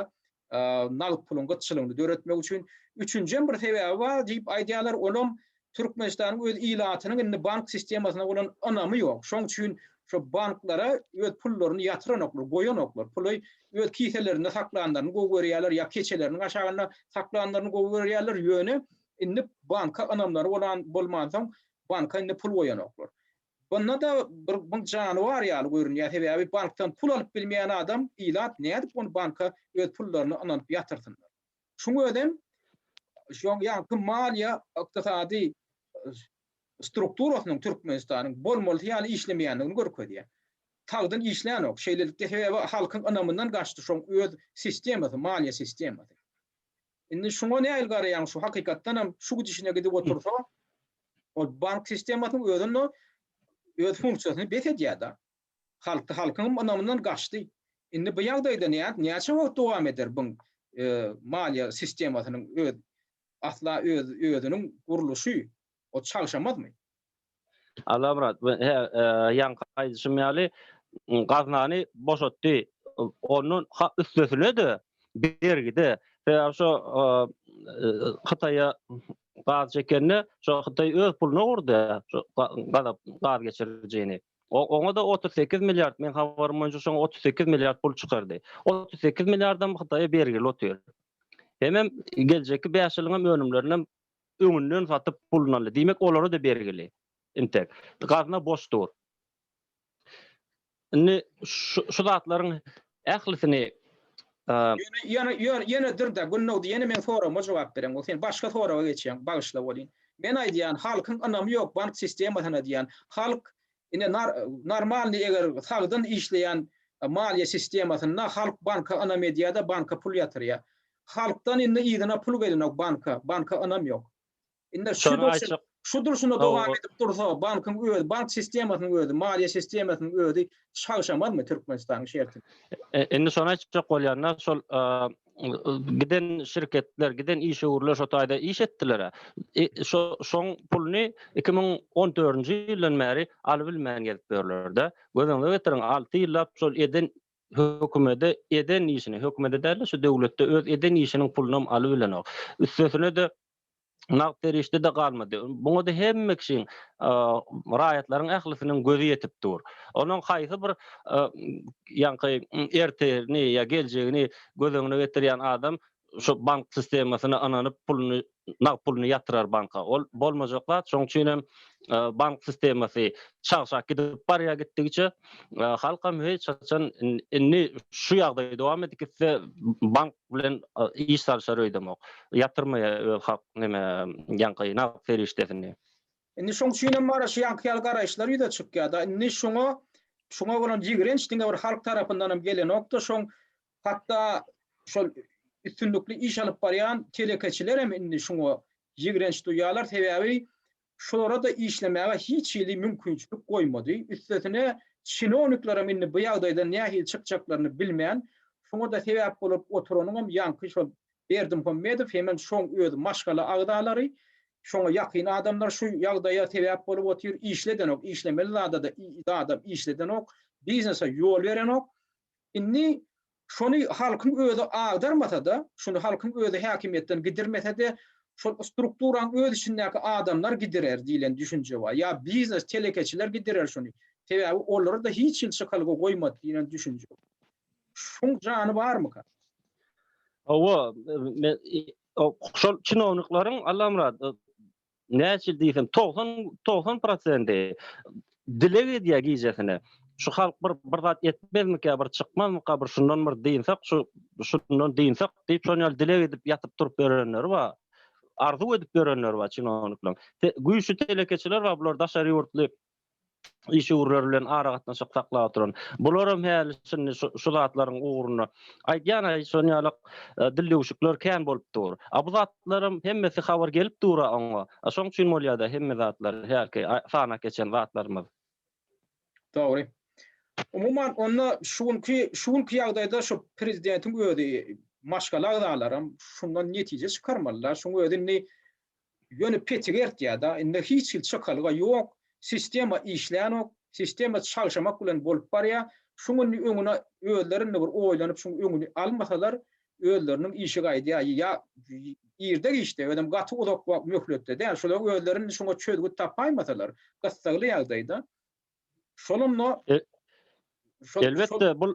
nagt puluň gytçylygyny döretmek üçin. Üçünji hem bir sebäbi bar diýip aýdýarlar, olam Türkmenistanyň öz ilatynyň indi bank sistemasyna bolan ynamy ýok. Şoň üçin şo banklara öz pullaryny ýatyranoklar, goýanoklar. Puly öz kiselerinde saklanlaryny gowy görýärler, ýa keçeleriniň aşagynda saklanlaryny gowy görýärler, ýöne indi banka ynamlary bolan bolmansoň, banka indi pul goýanoklar. Onda-da bir bir janybar ýaly görünýär, sebäbi bankdan pul alyp bilmeýän adam ilat nädip ony banka öz pullaryny ynanyp ýatyrsynlar. Şuň özem şoň ýaňky maliýe ykdysady strukturasynyň Türkmenistanyň bolmalysy ýaly işlemeýändigini görkezýär. Sagdyn işlänok. Şeýlelikde sebäbi halkyň ynamyndan gaçdy şoň öz sistemasy, maliýe sistemasy. Indi şuňa nähili garaýaň, şu hakykatdan hem şu gidişine gidip otursa, ol bank sistemasynyň özünde öz funksiýasyny bes edýär-de. Halk, halkyň ynamyndan gaçdy. Indi bu ýagdaýda nädip, näçe wagt dowam eder buň maliýe sistemasynyň öz asla öz özüniň gurluşy, o çalşamazmy? Allamyrat, he, ýaňky aýdyşym ýaly, gaznany boşatdy. Ondan ha üstesine-de bergide, sebäbi şo Hytaýa gaz çekende, şo Hytaý öz puluna gurdy, şo gazap gaz geçirijini. Oňa-da 38 milliard, meň habarym boýunça şoňa 38 milliard pul çykardy. 38 milliardam Hytaýa bergili otyr. Hemem geljekki 5 ýylyň hem önümlerini öňünden satyp pulun aldy. Diýmek olara-da bergili. Intek. Gazna boş dur. Indi şu zatlaryň ählisini Ýöne ýöne ýöne dur-da Gündogdy ýene meň soragyma jogap bereň. Ol sen başga soraga geçýäň. Bagyşla welin. Men aýdýan halkyň ynamy ýok bank sistemasyna diýýän. Halk ine nar normalny eger sagdyn işleýän maliýe sistemasynda halk banka ynam edýär-de banka pul ýatyrýar. Halkdan indi yzyna pul gelenok banka, banka ynam ýok. Indi şu durşuna, şu durşuna dowam edip dursa, bankyň öz bank sistemasynyň özi, maliýe sistemasynyň özi çagşamazmy Türkmenistanyň şerti? Indi şony aýtjak bolýan-da, şol giden şirketler, giden işewürler şo taýda iş etdiler-ä. Şo şoň puluny 2014-nji ýyldan bäri alybilmän gezip ýörler-de. Göz öňüňe getiriň, alty ýyllap şol eden hökümede eden işini, hökümede däl-de, şu döwletde öz eden işiniň pulunam alybilenok. Üstesine-de, nagt serişde-de galmady. Muňa-da hemme kişiň, raýatlaryň ählisiniň gözi ýetip dur. Onuň haýsy bir ýaňky ertirini ýa geljegini göz öňüne getirýän adam şu bank sistemasyna ynanyp puluny nagt puluny ýatyrar banka ol bolmajak zat şoň üçin hem bank sistemasy çagşap gidip barýar gitdigiçe halkam hiç haçan indi şu ýagdaý dowam edip gitse bank bilen iş salyşar öýdemok ýatyrmaýar halk neme ýaňky nagt serişdesini. Indi şoň üçin hem mara şu ýaňky ýaly garaýyşlar ýüze çykýar-da indi şoňa şoňa bolan ýigrenç diňe bir halk tarapyndanam gelenok-da şoň Hatda şol üstünlikli iş alyp barýan telekeçilerem indi şuňa ýigrenç duýýarlar, sebäbi şolara-da işlemäge hiç hili mümkinçilik goýmady. Üstesine, çinowniklerem indi bu ýagdaýdan nähili çykjaklaryny bilmän, şuňa-da sebäp bolup oturanyňam ýaňky şol Berdimuhamedow hemen şoň özi maşgala agzalary, şoňa ýakyn adamlar şu ýagdaýa sebäp bolup otyr, işledenok, işlemeli zada-da zadam işledenok, biznese ýol berenok. Indi şony halkyň özi agdarmasa-da, şuny halkyň özi häkimiýetden gidirmese-de, şol strukturanyň öz içindäki adamlar gidirer diýlen düşünje bar. Ýa biznes, telekeçiler gidirer şuny. Sebäbi olara-da hiç hili çykalga goýmady diýlen düşünje bar. Şuň jany barmyka? Hawa, men şol çinownikleriň, Allamyrat, näçe diýsem togsan togsan prosenti dileg edýär gijesine şu halk bir bir zat etmezmikä bir çykmazmyka bir şundan bir dynsak şu şundan dynsak diýip şon ýaly dileg edip ýatyp turup ýörenleri bar arzuw edip ýörenleri bar çinonikler güýçli telekeçiler bar bular daşary ýurtly işewürler bilen aragatnaşyk saklap oturan. Bularam häli şindi şu zatlaryň ugrunda aýdýan şon ýaly dil döwşükler kän bolup dur. A bu zatlaram hemmesi habar gelip dura oňa. Şoň üçin bolýada hemme zatlar hälki sanap geçen zatlarymyz. Dogry. Umuman onda şu günki şu günki ýagdaýda şu prezidentiň özi maşgala agzalaram şundan netije çykarmalylar. Şuň özi indi Ýöne petik ertýäda indi hiç hil çykalga ýok, sistema işlänok, sistema çalşamak bilen bolup barýa, şuň indi öňüne özleri indi bir oýlanyp şuň öňüni almasalar özleriniň işi gaýdýa ýa irde giçde özem gaty uzak wagt möhletde däl şular özleri indi şuňa çözgüt tapaýmasalar gyssagly ýagdaýda Şonunda Elbetde, bul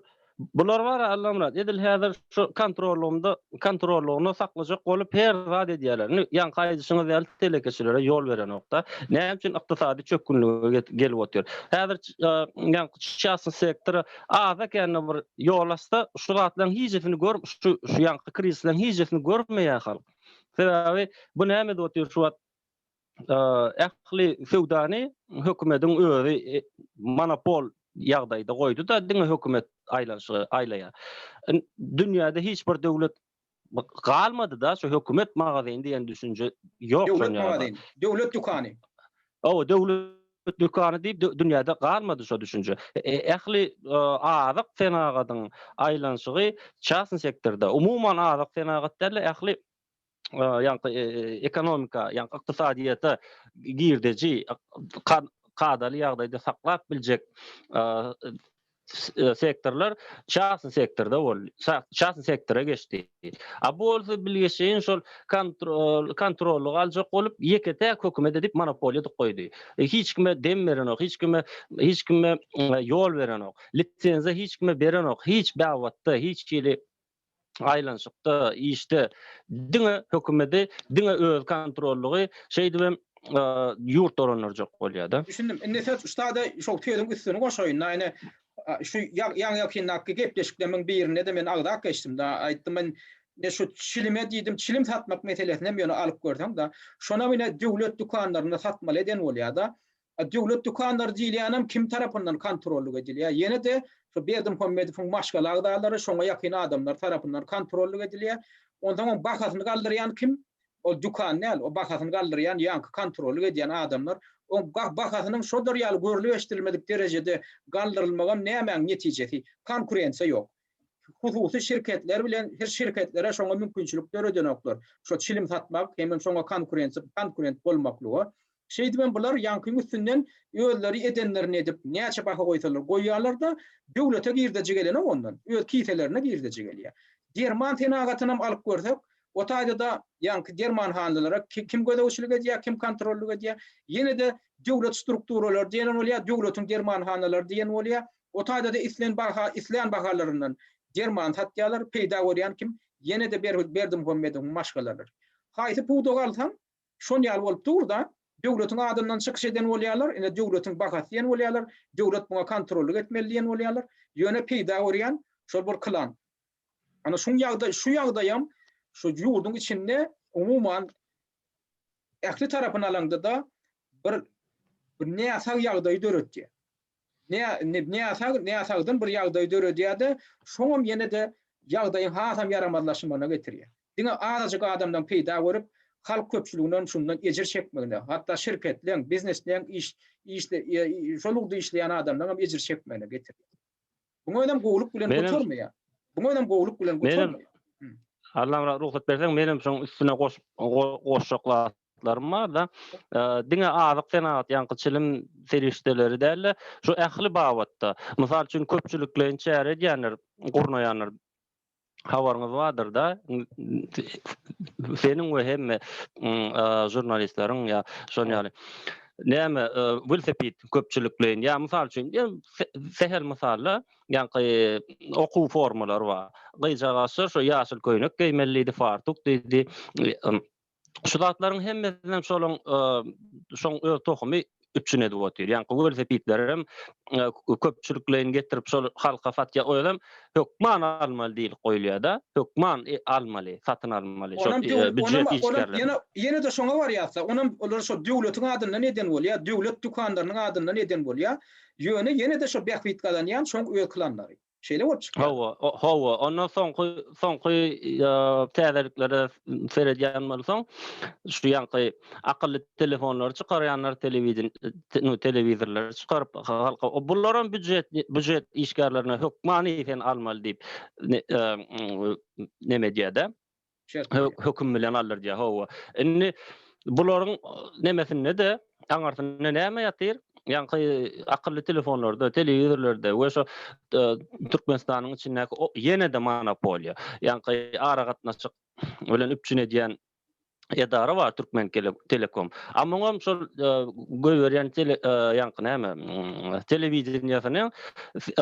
bular bar Allamyrat. Edil häzir şu kontrollygynda kontrollygynda saklajak bolup her zat edýärler. Indi ýaňky aýdyşyňyz ýaly telekeçilere ýol berenokda. Näme üçin ykdysady çökgünlige gelip otyr? Häzir ýaňky çasy sektora az ekende bir ýol açsa, şu zatlaryň hijesini gör, şu şu ýaňky krizisleriň hijesini görmeýär halk. Sebäbi bu näme edip otyr şu wagt? ähli söwdany hökümediň özi monopol ýagdaýda goýdy-da, diňe hökümet aýlanyşygy aýlaýar. Dünýäde hiç bir döwlet galmady-da, şu hökümet magazyny diýen düşünje ýok. Döwlet magazyny, döwlet dükany. Hawa, döwlet dükany diýip dünýäde galmady şu düşünje. Ähli azyk senagatyň aýlanyşygy çasn sektorda. Umuman azyk senagat däl-de, ähli ýaňky ekonomika, ýaňky ykdysadyýete girdeji kadaly ýagdaýda saklap biljek sektorlar çarsi sektorda boldy. Çarsi sektora geçdi. A bu bolsa bilgeşeýin şol kontrollygy aljak bolup, ýeke-täk hökümet edip monopoliýa dik goýdy. Hiç kime dem berenok, hiç kime hiç kime ýol berenok. Lisenziýa hiç kime berenok. Hiç babatda, hiç hili aýlanyşykda işde diňe hökümeti diňe öz kontrollygy şeýdip hem ýurt dolandyrjak bolýada. Düşündim. Indi söz ussada şol sözüň üstüni goşaýyn da ine şu ýaňy ýakyndaky gepleşiklemiň birinde-de men agzap geçdim da aýtdym men ne şu çilime diýdim çilim satmak meselesinem ýöne alyp görseň da şonam ine döwlet dükanlarynda satmaly eden bolýada A döwlet dükanlary diýilýänem kim tarapyndan kontrollyk edilýär? Ýene-de şu Berdimuhamedowyň maşgala agzalary, şoňa ýakyn adamlar tarapyndan kontrollyk edilýär. Onsoň oň bahasyny galdyrýan kim? Ol dükan däl, o bahasyny galdyrýan ýaňky kontrollyk edýän adamlar. Oň bahasynyň şolar ýaly görlüp-eşidilmedik derejede galdyrylmagam nämäň netijesi? Konkurensiýa ýok. hususy şirketler bilen her şirketlere şoňa mümkinçilik döredenoklar. Şo çilim satmak hemem şoňa konkurensiýa konkurent bolmaklyga. Şeýdibem bular ýaňkyň üstünden özleri edenlerini edip näçe baha goýsalar goýýarlar-da, döwlete girdeji gelenok ondan, öz kiselerine girdeji gelýär. Derman senagatynam alyp görsek, o taýda-da ýaňky dermanhanlara kim gözegçilik edýär, kim kontrollyk edýär? Ýene-de döwlet strukturalary diýen bolýar, döwletiň dermanhanalary diýen bolýar. O taýda-da islen barha islän bahalaryndan derman satýarlar, peýda görýän kim ýene-de Berhüz Berdimuhammedowyň maşgalalar. Haýsy pudagy alsaň, şon ýaly bolup dur-da, döwletiň adyndan çykyş eden bolýarlar, ine döwletiň bahasy diýen bolýarlar, döwlet muňa kontrollyk etmeli diýen bolýarlar, ýöne peýda görýän şol bir klan. Ana şuň ýagdaý, şu ýagdaýam şu ýurduň içinde umuman ähli tarapyny alaňda-da bir bir näsag ýagdaýy döretýär. näsag-näsagdan bir ýagdaý döredýär-de, şoňam ýene-de ýagdaýyň hasam ýaramazlaşmagyna getirýär. Diňe azajyk adamlaryň peýda görüp, halk köpçüliginiň şundan ejir çekmegine, hatda şirketleň, biznesleň, şol ugurda işleýän adamlaryň hem ejir çekmegine getirýär. Muňa özem gowulyk bilen gotarmaýar. Muňa özem gowulyk bilen gotarmaýar. Allamyrat, rugsat berseň, menem şoň üstüne goşjak zat maksatlarym barda diňe azyk senagat ýaňky çilim serişdeleri dälde şu ähli babatda mysal üçin köpçülikleýin çäre edýänler gurnaýanlar habaryňyz bardyrda seniň we hemme žurnalistleriň ýa şon ýaly näme welsepit köpçülikleýin ýa mysal üçin sehel mysalla ýaňky okuw formalary bar gyýjagaşlar şu ýaşyl köýnek geýmelidi fartuk diýdi Şu zatlaryň hemmesinem şolyň şoň öz tohumy üçin edip otyr. Ýa gowy görse pitlerim köpçülikleýin getirip şol halka satýa. O ýerim hökman almaly diýip goýulýar-da. Hökman almaly, satyn almaly. Şol büjet işgärleri. Ýene ýene de şoňa barýarsa, onam olar şol döwletiň adyndan eden bolýar, döwlet dükanlarynyň adyndan eden bolýar. Ýöne ýene de şo bähbit gazanýan şoň öz klanlary. Şeýle bolup çykýar. Hawa, hawa. Ondan soňky soňky täzeliklere seredýän bolsaň, şu ýanky akylly telefonlary çykarýanlar, telewideniýe, telewizorlary çykaryp halka bular hem býujet, býujet işgärlerine hökmany sen almaly diýip neme edýär-de. höküm bilen aldyrýar. Hawa. Indi bularyň nemesinde-de aňyrsynda näme ýatyr? Ýaňky akylly telefonlarda, telewizorlarda we şu e, Türkmenistanyň içindäki ýene-de monopoliýa. Ýaňky aragatnaşyk bilen üpjün edýän edara bar Türkmen Telekom. Amma hem şol e, göýberýän tele e, ýaňky näme mm, telewideniýesiniň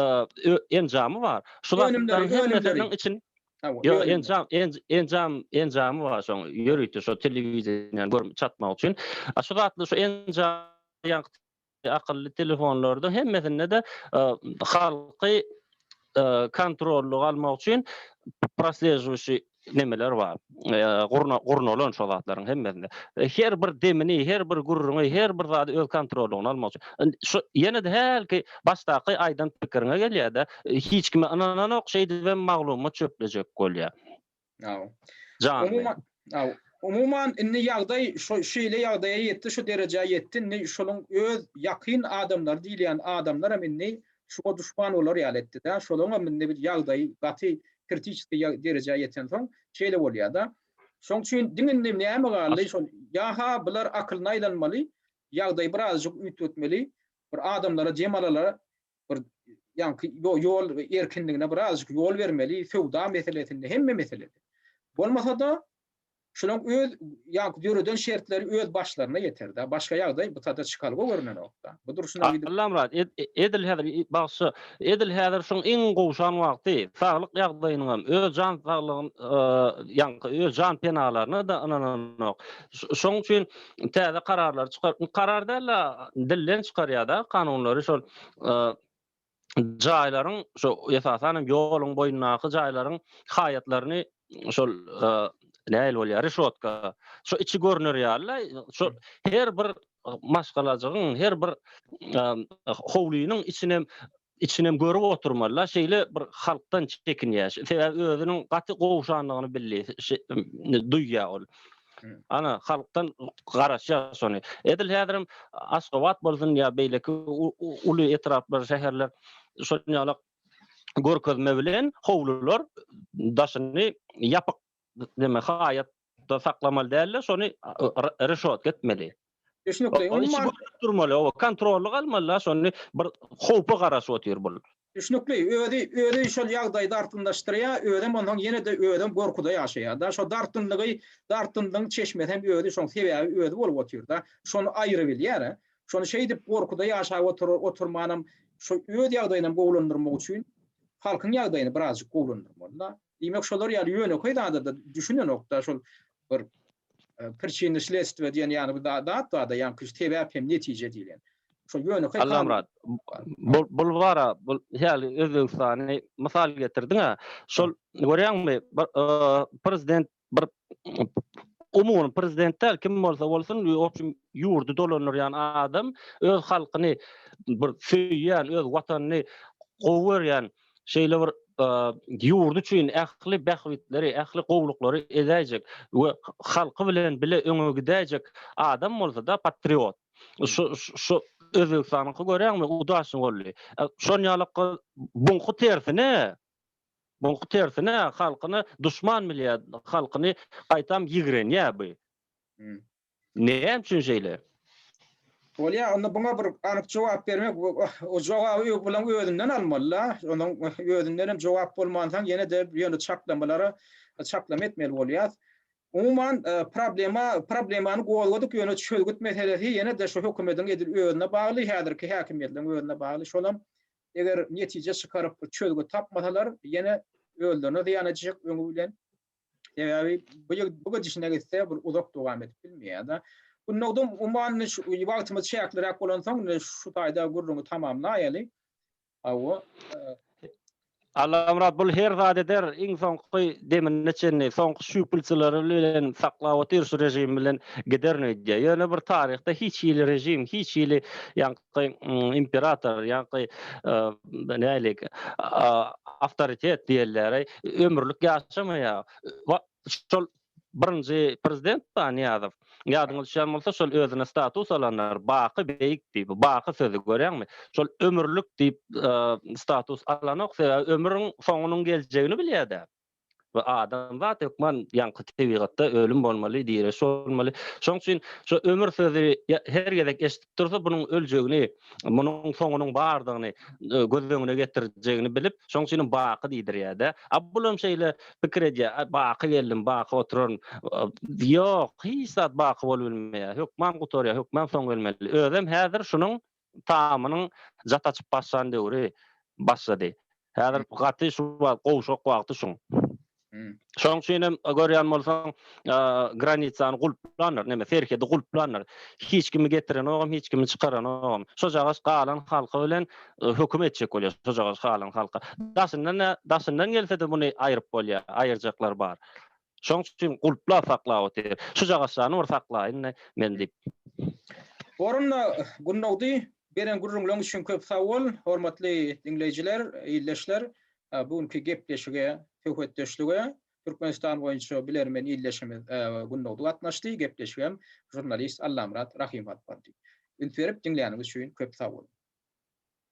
e, enjamy bar. Şular önümleriň içinde Ýok, enjam, enjam, enjamy bar şoň. Ýörite şo telewideniýäni görüp çatmak üçin. A şu zatly şu enjam akylly telefonlarda hemmesinde-de halky kontrollyga almak üçin proslejwişi nemeler bar. Gurnalan şo zatlaryň hemmesinde. Her bir demini, her bir gürrüňi, her bir zady öz kontrollygyna almak üçin. Şu ýene-de hälki başdaky aýdan pikiriňe gelýär-de, hiç kime ynananok şeýdibem maglumat çöplejek bolýar. Aw. Umuman, aw, umuman indi ýagdaý şu şeýle ýagdaýa ýetdi, şu derejä ýetdi. Indi şonuň öz ýakyn adamlary diýilýän adamlaram indi şuňa duşman bolar ýaly etdi-de. Şolaryňam indi bir ýagdaýy gaty kritiçeski ýa derejä ýetensoň şeýle bolýar-da. Şoň üçin diňe indi näme galdy, şol ýa-ha bular akylyna aýlanmaly, ýagdaýy birazajyk üýtgetmeli, bir adamlara, jemalalara bir ýaňky ýol erkinligine birazajyk ýol bermeli, söwda meselesinde, hemme meselede. Bolmasa-da, şolaň öz ýaňky döreden şertleri öz başlaryna ýeter-dä. Başga ýagdaý btada çykalga görünenok-da. Bu durşuna gidip. Allamyrat, edil häzir bagşy, edil häzir şuň iň gowşan wagty, saglyk ýagdaýynyňam, öz jan saglygyň, ýaňky öz jan penalaryna-da ynananok. Şoň üçin. täze kararlary çykar. Karar däl-de, dilden çykarýar-da kanunlary şol jaýlaryň, şu esasan hem ýoluň boýundaky jaýlaryň haýatlaryny şol nähili bolýar, rişotka, şu içi görner ýaly, şu her bir maşgalajygyň, her bir howlynyň içine Içinem görüp oturmala şeýle bir halkdan çekinýä. Sebäbi özüniň gaty gowşanlygyny bildi. Duýýa ol. Ana halkdan garaşýa şony. Edil häzirem Aşgabat bolsun ýa beýleki uly etraplar, şäherler şol ýaly görkezme bilen howlular daşyny ýapyk deme haýat da saklamaly däldir şony reşotka etmeli. Düşnükli umuman. Durmaly o kontrolly galmaly şony bir howpa garaşyp otyr bul. Düşnükli özi özi şol ýagdaýy dartgynlaşdyrýa özem onsoň ýenede özem gorkuda ýaşaýa da şo dartgynlygy dartgynlygyň çeşmesi hem özi şoň sebäbi özi bolup otyr da şony aýyryp bilýär şony şeýdip gorkuda ýaşap otyr otyrmanam şo öz ýagdaýynam gowulandyrmak üçin halkyň ýagdaýyny birazjyk gowulandyrmaly da Diýmek şolar ýaly ýönekeý zada-da düşünenok-da şol bir Pricina sledstwa diýen ýaly bir zat bar-da ýaňky şu sebäp hem netije diýlen. Şol ýönekeý Allamyrat, bul bara bul häli Özbegistany mysal getirdiň-ä. Şol görýäňmi bir prezident bir umuman prezident däl kim bolsa bolsun obşim ýurdy dolandyrýan adam öz halkyny bir söýýän öz watanyny gowy görýän şeýle bir ýurdy üçin ähli bähbitleri ähli gowluklary edäýjek we halky bilen bile öňe gidäýjek adam bolsada patriot şu şu özbegistanyňky göräňmi udaçny boldy şonýalykka buňky tersine Muňky tersine halkyny duşman bilýä halkyny gaýtam ýigrenýä bu. Näme üçin şeýle? Bolýa onda buňa bir anyk jogap bermek o jogaby ög bilen özünden almalyda onuň özündenem jogap bolmansoň ýenede ýöne çaklamalara çaklama etmeli bolýas. Umuman problema problemany gozgadyk ýöne çözgüt meselesi ýenede şu hökümediň edil özüne bagly häzirki häkimiýetleriň özüne bagly şolam Eger netije çykaryp bir çözgüt tapmasalar, ýene özlerine zyýan etjek öňi bilen. Sebäbi bu ýig bu gidişine gitse bir uzak dowam edip bilmeýär-de. Gülnagdym uman indi şu wagtymyz çäkliräk bolansoň indi şu taýda gürrüňi tamamlaýaly. Hawa. Allamyrat bul her zat eder iň soňky demine çenli soňky şüwpülçileri bilen saklap otyr şu režim bilen giderin öýdýär. Ýöne bir taryhda hiç hili režim hiç hili ýa ýa-da imperator ýa-da nähili awtoritet diýilýär, ömürlik ýaşamaýar. Şol birinji prezident bar, Nyýazow. Ýadyňyza düşýän bolsa, şol özüne status alanlar baky beýik diýip, baky sözi görýäňmi? Şol ömürlik diýip status alanok, sebäbi ömrüň soňunyň geljegini bilýär däl. we adamzat hökman ýaňky tebigatda ölüm bolmaly, direş bolmaly. Şonuň üçin şu ömür sözi her gezek eşidip dursa, bunuň öljegini, munuň soňunyň bardygyny e, göz öňüne getirjegini bilip, şonuň üçin hem baky diýdirýär-de. A bulam şeýle pikir edýär, baky geldim, baky oturaryn. Ýok, hiç zat baky bolup bilmeýär. Hökman gutarýar, hökman soň gelmeli. Özem häzir şunuň tamynyň jat açyp başlan döwri başlady. Häzir gaty şu wagt gowşak wagty şuň. Şonuň üçin hem görýän bolsaň, granitsany gulplandyr, neme serhedi gulplandyr. Hiç kimi getirenogam, hiç kimi çykaranogam. Şojagaz galan halka bilen höküm etjek bolýar, şojagaz galan halka. Daşyndan-a, daşyndan gelse-de muny aýryp bolýar, aýyrjaklar bar. Şoň üçin gulplap saklap otyr. Şu jagaşjany bir saklaýyn-da men diýip. Orunda Gündogdy, beren gürrüňleň üçin köp sag bol. Hormatly diňleýjiler, ildeşler, bu günki gepleşige, söhbetdeşlige Türkmenistan boýunça bilermen ildeşimiz Gündogdy gatnaşdy. Gepleşigem žurnalist Allamyrat Rahym alyp bardy. Üns berip diňläniňiz üçin köp sag boluň.